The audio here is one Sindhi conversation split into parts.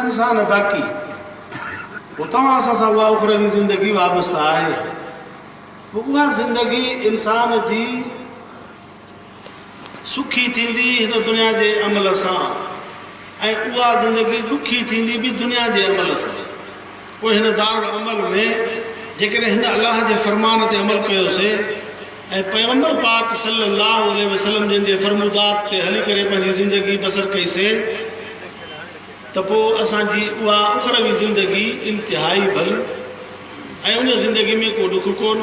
انسان باقي هو توهان سان سان اها اخروي زندگي وابسته آهي پوء اها زندگي انسان جي سکي ٿيندي هن دنيا جي عمل سان ۽ اها زندگي ڏکي ٿيندي به دنيا جي عمل سان پوء هن دارالعمل ۾ جيڪڏهن هن الله جي فرمان تي عمل ڪيوسي ۽ پيغمبر پاڪ صلّي اللّٰه عليه وسلّم جن جي فرمودات تي هلي ڪري پنهنجي زندگي بسر ڪئي سين ته پوء اسان جي اها اخروي زندگي انتهائي ڀلي ۽ ان زندگي ۾ ڪو ڏک ڪون،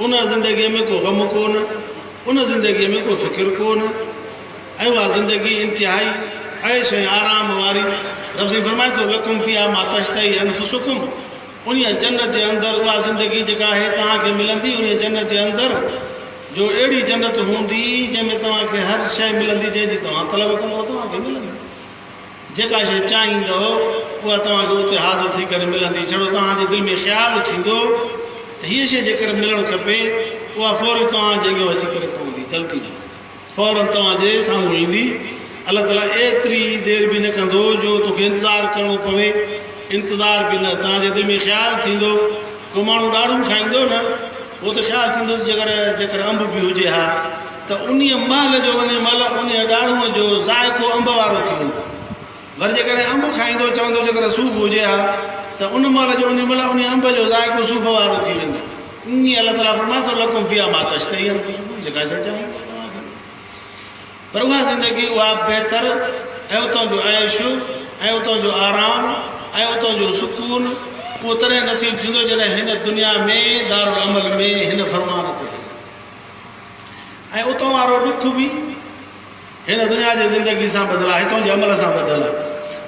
ان زندگي ۾ ڪو غم ڪون، ان زندگي ۾ ڪو فڪر ڪون ۽ اها زندگي انتهائي عيش ۽ آرام واري رب سائين فرمائي ٿو لڪم فيها ما تشتهي انفسڪم. انهيء جنت جي اندر اها زندگي جيڪا آهي توهان کي ملندي، انهيء جنت جي اندر، جو اهڙي جنت هوندي، جنهن ۾ توهان کي هر شيء ملندي جنهن جي توهان طلب ڪندؤ توهان کي ملندي. جيڪا شيء چاهيندؤ اها توهان کي اتي حاضر ٿي ڪري ملندي. ڇڙو توهان جي دل ۾ خيال ٿيندو ته هيء شيء جيڪر ملڻ کپي، اها فوري توهان جي اڳيان اچي ڪري پوندي، جلدي ۾. فوراً توهان جي سامهون ايندي. الله تعاليٰ ايتري دير به نه ڪندو جو توکي انتظار ڪرڻو پوي. انتظار به نه، توهان جي دل ۾ خيال ٿيندو. ڪو ماڻهو ڏاڙهون کائيندو نه، پوء ته خيال ٿيندس جيڪر جيڪر انب به هجي ها ته انهيء مهل جو انهيء مهل انهيء ڏاڙهونء جو ذائقو انب وارو ٿي ويندو. ور جيڪڏهن انب کائيندو چوندو جيڪر صوف هجي ها ته ان مهل جو انهي مهل انهي انب جو ذائقو صوف وارو ٿي ويندو اڃي الله تعالي فرمائي ٿو لڪم فيها ما تشتهي انفسڪم جيڪا شيء چاهيو ٿا توهان کي ملي پر اها زندگي اها بهتر ۽ اتان جو عيش ۽ اتان جو آرام ۽ اتان جو سڪون اهو تڏهن نصيب ٿيندو جڏهن هن دنيا ۾ دارالعمل ۾ هن فرمان تي هليو ۽ اتان وارو ڏک به هن دنيا جي زندگي سان ٻڌل آهي، هتان جي عمل سان ٻڌل آهي.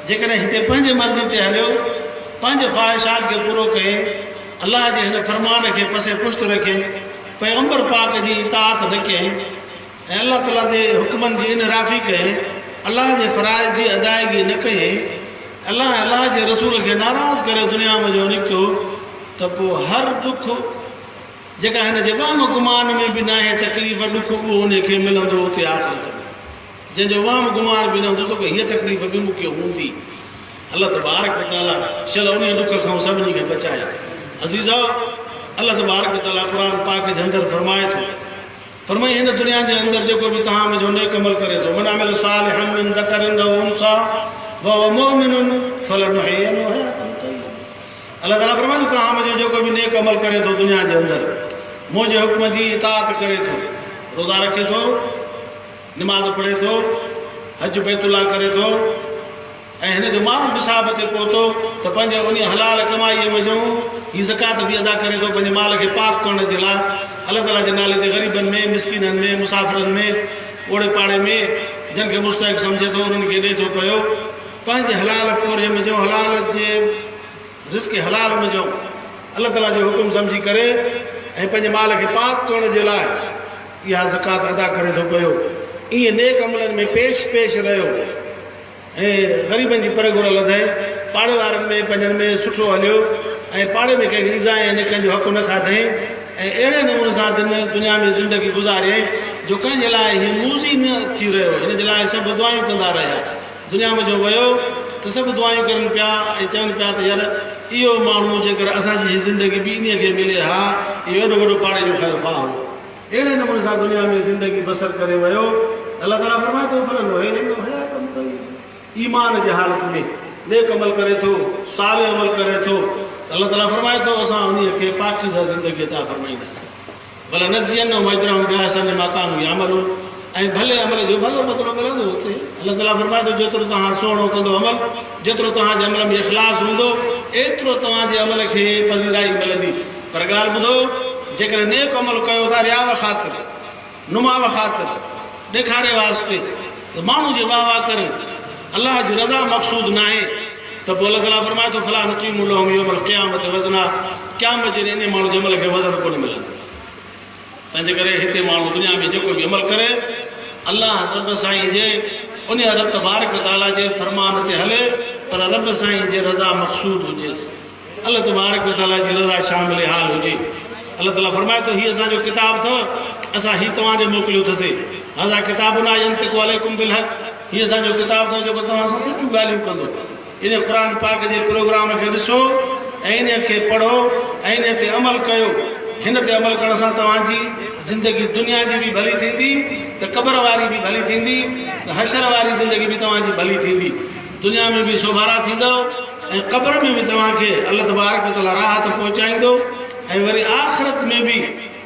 جيڪڏهن هتي پنهنجي مرضي تي هليو، پنهنجي خواهشات کي پورو ڪيئي، الله جي هن فرمان کي پسي پشت رکيئي، پيغمبر پاڪ جي اطاعت نه ڪيئي ۽ الله تعاليٰ جي حڪمن جي انحرافي ڪيئي، الله جي فرائض جي ادائيگي نه ڪيئي، الله ۽ الله جي رسول کي ناراض ڪري دنيا منجهو نڪتو ته پوء هر ڏک، جيڪا هن جي وهم و گمان ۾ به ناهي، تڪليف، ڏک، اهو انهي کي ملندو اتي آخرت ۾، جنهن جو وهم گمان به نه هوندو ته ڪو هيء تڪليف به مون کي هوندي. الله تبارڪ و تعاليٰ شل انهي ڏک کان سڀني کي بچائي. عزيزؤ! الله تبارڪ و تعاليٰ قرآن پاڪ جي اندر فرمائي ٿو، فرمائي هن دنيا جي اندر جيڪو به توهان ويجهو نيڪ عمل ڪري ٿو، من عمل صالحا من ذڪر او انثيٰ وهو مؤمن فلنحيينه حياة طيبة. الله تعاليٰ فرمائي ٿو ته عام جو جيڪو به نيڪ عمل ڪري ٿو دنيا جي اندر منهنجي حڪم جي اطاعت ڪري ٿو، روزا رکي ٿو، نماز پڙهي ٿو، حج بيت الله ڪري ٿو ۽ هن جو مال نصاب تي پهتو ته پنهنجي انهي حلال ڪمائي وجهون هي زڪوات به ادا ڪري ٿو پنهنجي مال کي پاڪ ڪرڻ جي لاء الله تعاليٰ جي نالي تي غريبن ۾ مسڪينن ۾ مسافرن ۾ اوڙي پاڙي ۾ جن کي مستحق سمجهي ٿو انهن کي ڏي ٿو پيو. پنهنجي حلال پورهيي منجهو حلال جي رزق حلال منجهو الله تعاليٰ جو حڪم سمجهي ڪري ۽ پنهنجي مال کي پاڪ ڪرڻ جي لاء اها زڪوات ادا ڪري ٿو پيو ائين نيڪ عملن ۾ پيش پيش رهيو ۽ غريبن جي پر گهر لڌائي پاڙي وارن ۾ پنهنجن ۾ سٺو هليو ۽ پاڙي ۾ ڪنهن کي ايذاء ۽ نڪن جو حق نه کاڌئين ۽ اهڙي نموني سان دن دنيا ۾ زندگي گذاريائين جو ڪنهن جي لاء هي موذي نه ٿي رهيو هن جي لاء سڀ دعائون ڪندا رهيا. دنيا ۾ جو ويو ته سڀ دعائيون ڪرن پيا ۽ چون پيا ته يار اهو ماڻهو جيڪر اسان جي هي زندگي به انهيء کي ملي ها اهو ايڏو وڏو پاڙي جو خير خواهه هو اهڙي نموني سان دنيا ۾ زندگي بسر ڪري ويو ته الله تعاليٰ فرمائي ٿو فلنحين انه حياتن طيبه ايمان جي حالت ۾ نيڪ عمل ڪري ٿو صالح عمل ڪري ٿو ته الله تعاليٰ فرمائي ٿو اسان انهيء کي پاڪيزه زندگي عطا فرمائينداسين. ولنجزينهم اجرهم باحسن ما ڪانوا يعملون ۽ ڀلي عمل جو ڀلو بدلو ملندو اتي الله تعالي فرمائي ٿو جيترو توهان سهڻو ڪندو عمل جيترو توهان جي عمل ۾ اخلاص هوندو ايترو توهان جي عمل کي پذيرائي ملندي پر ڳالهه ٻڌو جيڪڏهن نيڪ عمل ڪيو ٿا رياء خاطر نماء خاطر ڏيکاري واسطي ته ماڻهو جي واهه واهه ڪرن الله جي رضا مقصود ناهي. ته پوء الله تعاليٰ فرمائي ٿو فلا نقيم لهم يوم القيامة وزنا قيامت جي ڏينهن انهي ماڻهو جي عمل کي وزن ڪونه ملندو. تنهنجي ڪري هتي ماڻهو دنيا ۾ جيڪو به عمل ڪري الله رب سائين جي انهي رب تبارڪ وتعاليٰ جي فرمان تي هلي پر رب سائين جي رضا مقصود هجيس. الله تبارڪ و تعاليٰ جي رضا شامل حال هجي. الله تعاليٰ فرمائي ٿو، هي اسان جو ڪتاب اٿو، اسان هي توهان ڏي موڪليو ٿسي، هذا کتابنا ينطق عليکم بالحق، هي اسان جو ڪتاب اٿو جيڪو توهان سان سچيون ڳالهيون ڪندو. انهيء قرآن پاڪ جي پروگرام کي ڏسو ۽ انهيء کي پڙهو ۽ انهيء تي عمل ڪيو. هن تي عمل ڪرڻ سان توهان جي زندگي دنيا جي به ڀلي ٿيندي ته قبر واري به ڀلي ٿيندي ته حشر واري زندگي به توهان جي ڀلي ٿيندي. دنيا ۾ به سوڀارا ٿيندؤ ۽ قبر ۾ به توهان کي الله تبارڪ و تعالي راحت پهچائيندو ۽ وري آخرت ۾ به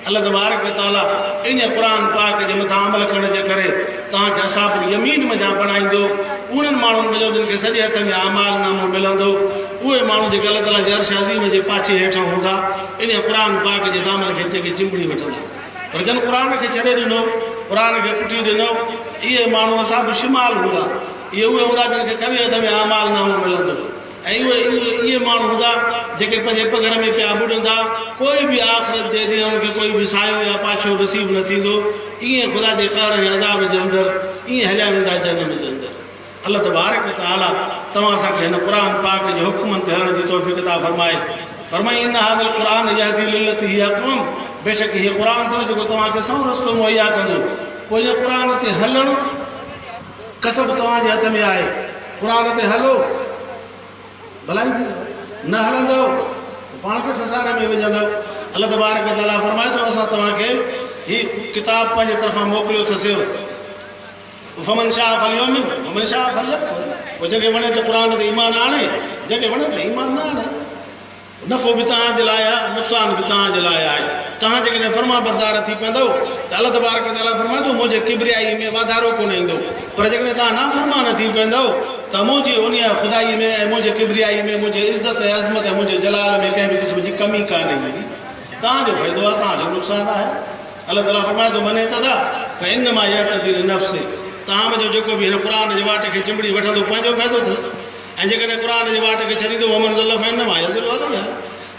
الله تبارڪ و تعالي ان قرآن پاڪ جي مٿان عمل ڪرڻ جي ڪري توهان کي اصحاب اليمين منجهان بڻائيندو انهن ماڻهن منجهو جن کي سڄي هٿ ۾ اعمال نامو ملندو اهي ماڻهو جيڪي الله تعالي جي عرش عظيم جي پاڇي هيٺان هوندا ان قرآن پاڪ جي دامن کي چڳي چنبڙي وٺندا پر جن قرآن کي ڇڏي ڏنو قرآن کي پٺيون ڏنؤ اهي ماڻهو اصحاب الشمال هوندا. اهي اهي هوندا جن کي ڪوي عدم اعمال نامو ملندو ۽ اهي اهي اهي ماڻهو هوندا جيڪي پنهنجي پگهر ۾ پيا ٻڏندا پوء به آخرت جي ڏينهن ان کي ڪوئي به سايو يا پاڇو نصيب نه ٿيندو ائين خدا جي قهر ۽ عذاب جي اندر ائين هليا ويندا جهنم جي اندر الله تبارڪ و تعالي توهان اسان کي هن قرآن پاڪ جي حڪمن تي هلڻ جي توفيق عطا فرمائي فرمائي ان هذا القرآن يهدي للتي هي اقوم بيشڪ هيء قرآن اٿو جيڪو توهان کي سنئون رستو مهيا ڪندو پوء ان قرآن تي هلڻ ڪسب توهان جي هٿ ۾ آهي. قرآن تي هلو ڀلائي ٿيندو، نه هلندؤ ته پاڻ کي خساري ۾ وجهندؤ. الله تبارڪ و تعاليٰ فرمائي ٿو، اسان توهان کي هي ڪتاب پنهنجي طرفان موڪليو اٿسيو. فمن شاء فليؤمن ومن شاء فليڪفر پوء جنهن کي وڻي ته قرآن تي ايمان آڻي، جنهن کي وڻي ته ايمان نه آڻي. نفعو به توهان جي لاء آهي ۽ نقصان به توهان جي لاء آهي. توهان جيڪڏهن فرمانبردار ٿي پوندؤ ته الله تبارڪ و تعاليٰ فرمائي ٿو منهنجي ڪبريائيء ۾ واڌارو ڪونه ايندو، پر جيڪڏهن توهان نافرمان ٿي پوندؤ ته منهنجي انهيء خدائيء ۾ ۽ منهنجي ڪبريائيء ۾ منهنجي عزت ۽ عظمت ۽ منهنجي جلال ۾ ڪنهن به قسم جي ڪمي ڪانه ايندي. توهان جو فائدو آهي، توهان جو نقصان آهي. الله تعاليٰ فرمائي ٿو، من اهتدي فانما يهتدي لنفسه، توهان ۾ جو جيڪو به هن قرآن جي واٽ کي چنبڙي وٺندو پنهنجو فائدو اٿس، ۽ جيڪڏهن قرآن جي واٽ کي ڇڏيندو ومن ضل فإنما يضل عليها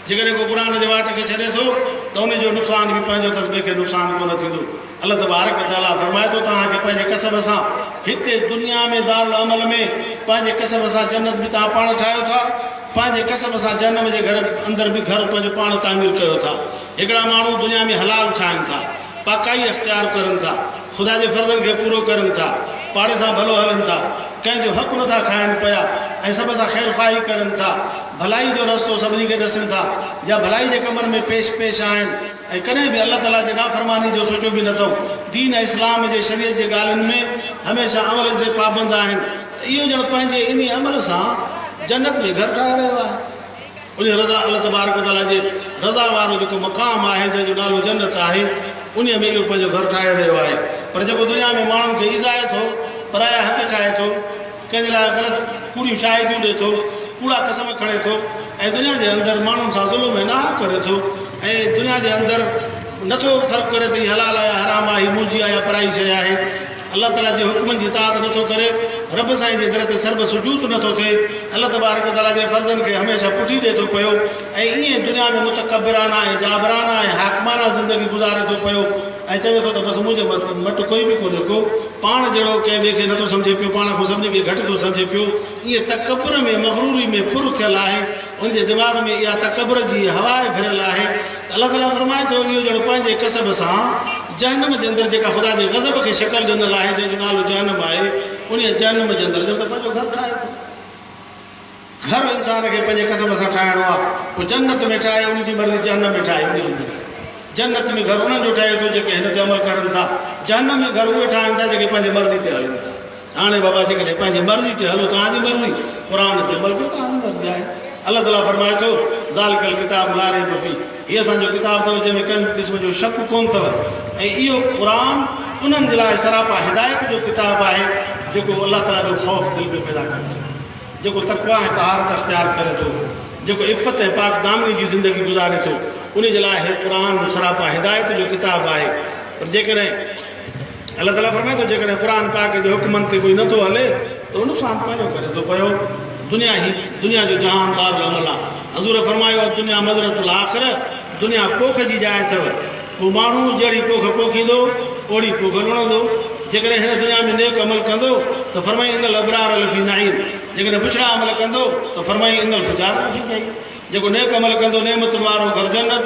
جيڪڏهن ڪو قرآن جي واٽ کي ڇڏي ٿو ته انهي جو نقصان به پنهنجو اٿس ٻئي کي نقصان ڪو نه ٿيندو الله تبارڪ وتعالٰي فرمائي ٿو توهان کي پنهنجي ڪسب سان هتي دنيا ۾ دار العمل ۾ پنهنجي ڪسب سان جنت به توهان پاڻ ٺاهيو ٿا پنهنجي ڪسب سان جهنم جي گهر اندر به گهر پنهنجو پاڻ تعمير ڪيو ٿا هڪڙا ماڻهو دنيا ۾ حلال کائن ٿا پاڪائي اختيار ڪرن ٿا. خدا جي فرضن کي پورو ڪرين ٿا، پاڙي سان ڀلو هلين ٿا، ڪنهن جو حق نٿا کائن پيا ۽ سڀ سان خير خواهي ڪرين ٿا، ڀلائي جو رستو سڀني کي ڏسين ٿا يا ڀلائي جي ڪمن ۾ پيش پيش آهن ۽ ڪڏهن به الله تعاليٰ جي نافرماني جو سوچيو به نٿئون، دين ۽ اسلام جي شريعت جي ڳالهين ۾ هميشه عمل تي پابند آهن ته اهو ڄڻ پنهنجي انهي عمل سان جنت ۾ گهر ٺاهي رهيو آهي. انهيء رضا الله تبارڪ و تعاليٰ جي رضا وارو جيڪو مقام آهي، جنهن جو نالو جنت آهي، انهيء ۾ اهو پنهنجو گهر ٺاهي رهيو آهي. پر جيڪو دنيا ۾ ماڻهن کي ايذائي ٿو، پرايا حق کائي ٿو، ڪنهن جي لاء غلط ڪوڙيون شاهديون ڏئي ٿو، ڪوڙا قسم کڻي ٿو ۽ دنيا جي اندر ماڻهن سان ظلم ۽ ناحق ڪري ٿو ۽ دنيا جي اندر نه ٿو فرق ڪري ته هي حلال آهي يا حرام آهي، هي منهنجي آهي يا پرائي شيء آهي، الله تعالي جي حڪمن جي اطاعت نه ٿو ڪري، رب سائين جي در تي سر به سجود نه ٿو ٿئي، الله تبارڪ و تعالي جي فرضن کي هميشه پٺي ڏئي ٿو پيو ۽ ائين ئي دنيا ۾ متڪبرانه ۽ جابرانه ۽ حاڪمانه زندگي گذاري ٿو پيو ۽ چوي ٿو ته بس منهنجي مٽ ڪوئي به ڪونهي ڪو پاڻ جهڙو ڪنهن ٻئي کي نه ٿو سمجهي پيو، پاڻ کان سڀني کي گهٽ ٿو سمجهي پيو، ائين تڪبر ۾ مغروري ۾ پر ٿيل آهي. ان جي دماغ ۾ اها تڪبر جي هوا ئي ڀريل آهي ته الله تعاليٰ فرمائي ٿو اهو ڄڻ پنهنجي ڪسب سان جهنم جي اندر جيڪا خدا جي غضب کي شڪل ڏنل آهي جنهن جو نالو جهنم آهي انهيء جهنم جي اندر ڄڻ ته پنهنجو گهر ٺاهي ٿو. گهر انسان کي پنهنجي ڪسب سان ٺاهڻو آهي پوء جنت ۾ ٺاهي ان جي مرضي جهنم ۾ ٺاهي ان جي مرضي جنت ۾ گهر انهن جو ٺهي ٿو جيڪي هن تي عمل ڪرن ٿا جهنم ۾ گهر اهي ٺاهن ٿا جيڪي پنهنجي مرضي تي هلن ٿا. هاڻي بابا جيڪڏهن پنهنجي مرضي تي هلو توهان جي مرضي قرآن تي عمل ڪيو توهان جي مرضي آهي الله تعالي فرمائي ٿو ذالڪ الڪتاب لا ريب فيه هي اسان جو ڪتاب اٿو جنهن ۾ ڪنهن به قسم جو شڪ ڪونه اٿو ۽ اهو قرآن انهن جي لاء سراپا هدايت جو ڪتاب آهي جيڪو الله تعالي جو خوف دل ۾ پيدا ڪري ٿو جيڪو تقويٰ ۽ طهارت اختيار ڪري ٿو جيڪو عفت ۽ پاڪ دامني جي زندگي گذاري ٿو انهي جي لاء هي قرآن سراپا هدايت جو ڪتاب آهي پر جيڪڏهن الله تعاليٰ فرمائي ٿو جيڪڏهن قرآن پاڪ جي حڪمن تي ڪوئي نٿو هلي ته اهو نقصان پنهنجو ڪري ٿو پيو دنيا هي دنيا جو جهان دارالعمل آ حضور فرمايو الدنيا مزرعة الاخرة دنيا پوک جي جاء اٿو ڪو ماڻهو جهڙي پوک پوکيندو اوڙي پوک لڻندو جيڪڏهن هن دنيا ۾ نيڪ عمل ڪندو ته فرمائي ان الابرار لفي نعيم جيڪڏهن بڇڙا عمل ڪندو ته فرمائي ان الفجار لفي جحيم جيڪو نيڪ عمل ڪندو نعمتن وارو گهر جنت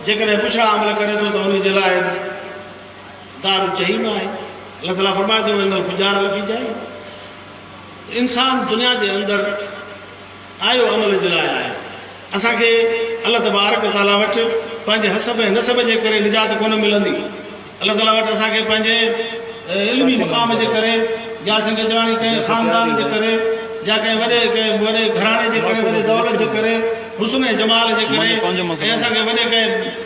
جيڪڏهن بڇڙا عمل ڪري ٿو ته انهي جي لاء دار چئي به آهي. الله تعاليٰ فرمائي ٿو وان الفجار لفي جحيم ته انسان دنيا جي اندر آيو عمل جي لاء آهي اسان کي الله تبارڪ و تعاليٰ وٽ پنهنجي حسب ۽ نسب جي ڪري نجات ڪونه ملندي الله تعاليٰ وٽ اسان کي پنهنجي علمي مقام جي ڪري يا سنڌ اچواڻي ڪنهن خاندان جي ڪري يا ڪنهن وڏي ڪنهن وڏي گهراڻي جي ڪري وڏي دولت جي ڪري حسن ۽ جمال جي ڪري ۽ اسان کي وڏي ڪنهن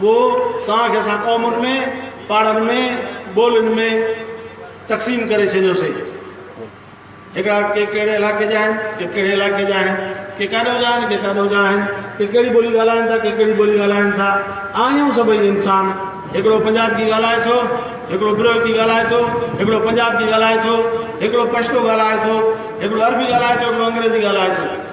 پوء سان کي اسان قومن ۾ پاڙن ۾ ٻولين ۾ تقسيم ڪري ڇڏيوسين. هڪڙا ڪي ڪهڙي علائقي جا آهن، ڪي ڪهڙي علائقي جا آهن، ڪي ڪاڏو جا آهن، ڪي ڪاڏو جا آهن، ڪي ڪهڙي ٻولي ڳالهائين ٿا، ڪي ڪهڙي ٻولي ڳالهائين ٿا. آهيون سڀئي انسان. هڪڙو پنجابڪي ڳالهائي ٿو، هڪڙو بروهڪي ڳالهائي ٿو، هڪڙو پنجابڪي ڳالهائي ٿو، هڪڙو پشتو ڳالهائي ٿو، هڪڙو عربي ڳالهائي ٿو، هڪڙو انگريزي ڳالهائي ٿو.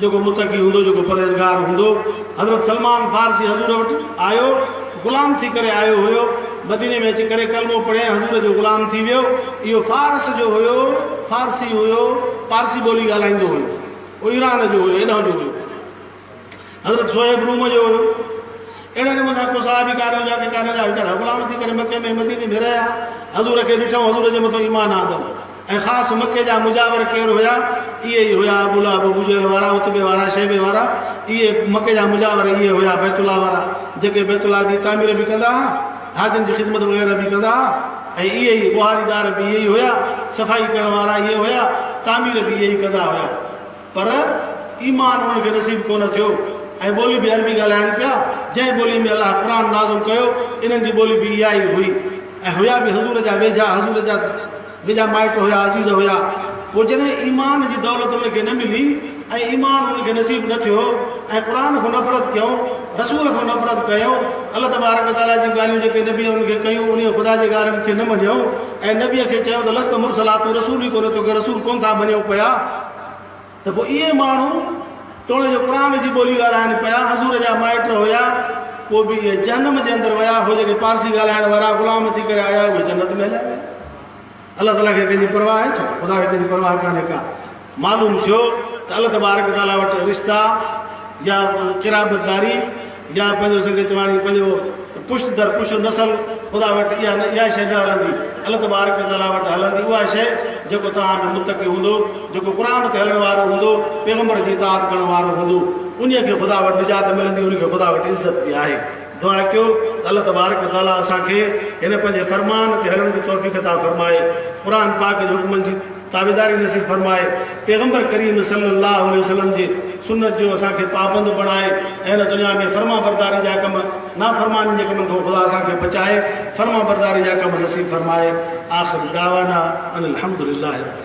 جيڪو متقي هوندو، جيڪو پرهيزگار هوندو. حضرت سلمان فارسي حضور وٽ آيو، غلام ٿي ڪري آيو هيو، مديني ۾ اچي ڪري ڪلمو پڙهيائين، حضور جو غلام ٿي ويو. اهو فارس جو هيو، فارسي هيو، پارسي ٻولي ڳالهائيندو هيو. اهو ايران جو هيو، هيڏانهن جو هيو. حضرت صهيب روم جو هيو. اهڙي نموني سان ڪو صحابي ڪانه هجا ڪي ڪانه جا وچڙا غلام ٿي ڪري مڪي ۾ مديني ۾ رهيا حضور کي ڏٺئون حضور جي مٿان ايمان آندئون ۽ خاص مڪي جا مجاور ڪير هيا اهي ئي هيا ابو لهب ابو جهل وارا عتبي وارا شيبي وارا اهي مڪي جا مجاور اهي هيا بيت الله وارا جيڪي بيت الله جي تعمير به ڪندا ها حاجين جي خدمت وغيره به ڪندا ها ۽ اهي ئي ٻهاري دار به اهي ئي هيا صفائي ڪرڻ وارا اهي هيا تعمير به اهي ئي ڪندا هيا. پر ايمان انهن کي نصيب ڪونه ٿيو ۽ ٻولي به عربي ڳالهائين پيا، جنهن ٻولي ۾ الله قرآن نازل ڪيو، انهن جي ٻولي به اها ئي هئي ۽ هيا به حضور جا ويجها، حضور جا ويجها مائٽ هيا، عزيز هيا، پوء جڏهن ايمان جي دولت انهن کي نه ملي ۽ ايمان انهن کي نصيب نه ٿيو ۽ قرآن کان نفرت ڪيائون، رسول کان نفرت ڪيائون، الله تبارڪ و تعاليٰ جون ڳالهيون جيڪي نبي انهن کي ڪيون، انهيء خدا جي ڳالهين کي نه مڃيائون ۽ نبيء کي چيائون ته لست مرسلا، تون رسول ئي ڪونهين، توکي رسول ڪونه ٿا مڃيون پيا. ته پوء اهي ماڻهو توڻي جو قرآن جي ٻولي ڳالهائن پيا حضور جا مائٽ هيا پوء به اهي جهنم جي اندر ويا هو جيڪي پارسي ڳالهائڻ وارا غلام ٿي ڪري آيا اهي جنت ۾ هليا ويا الله تعالي کي ڪنهن جي پرواهه آهي ڇا خدا کي ڪنهن جي پرواهه ڪانهي ڪا معلوم ٿيو ته الله تبارڪ تعالي وٽ رشتا يا قرابت داري يا پنهنجو جيڪي چواڻي پنهنجو پشت در پشت نسل خدا وٽ اها نه اها شيء نه هلندي الله تبارڪ و تعاليٰ وٽ هلندي اها شيء جيڪو توهان ۾ متقي هوندو جيڪو قرآن تي هلڻ وارو هوندو پيغمبر جي اطاعت ڪرڻ وارو هوندو انهي کي خدا وٽ نجات ملندي انهي کي خدا وٽ عزت به آهي دعا ڪيو ته الله تبارڪ و تعاليٰ اسان کي هن پنهنجي فرمان تي هلڻ جي توفيق عطا فرمائي قرآن پاڪ جي حڪمن جي تابعداري نصيب فرمائي، پيغمبر ڪريم صلّي اللّٰه عليه وسلّم جي سنّت جو اسان کي پابند بڻائي ۽ هن دنيا ۾ فرمانبرداري جا ڪم، نافرمانين جي ڪمن کان خدا اسان کي بچائي، فرمانبرداري جا ڪم نصيب فرمائي، آخر دعوانا ان الحمد للّٰه رب العالمين.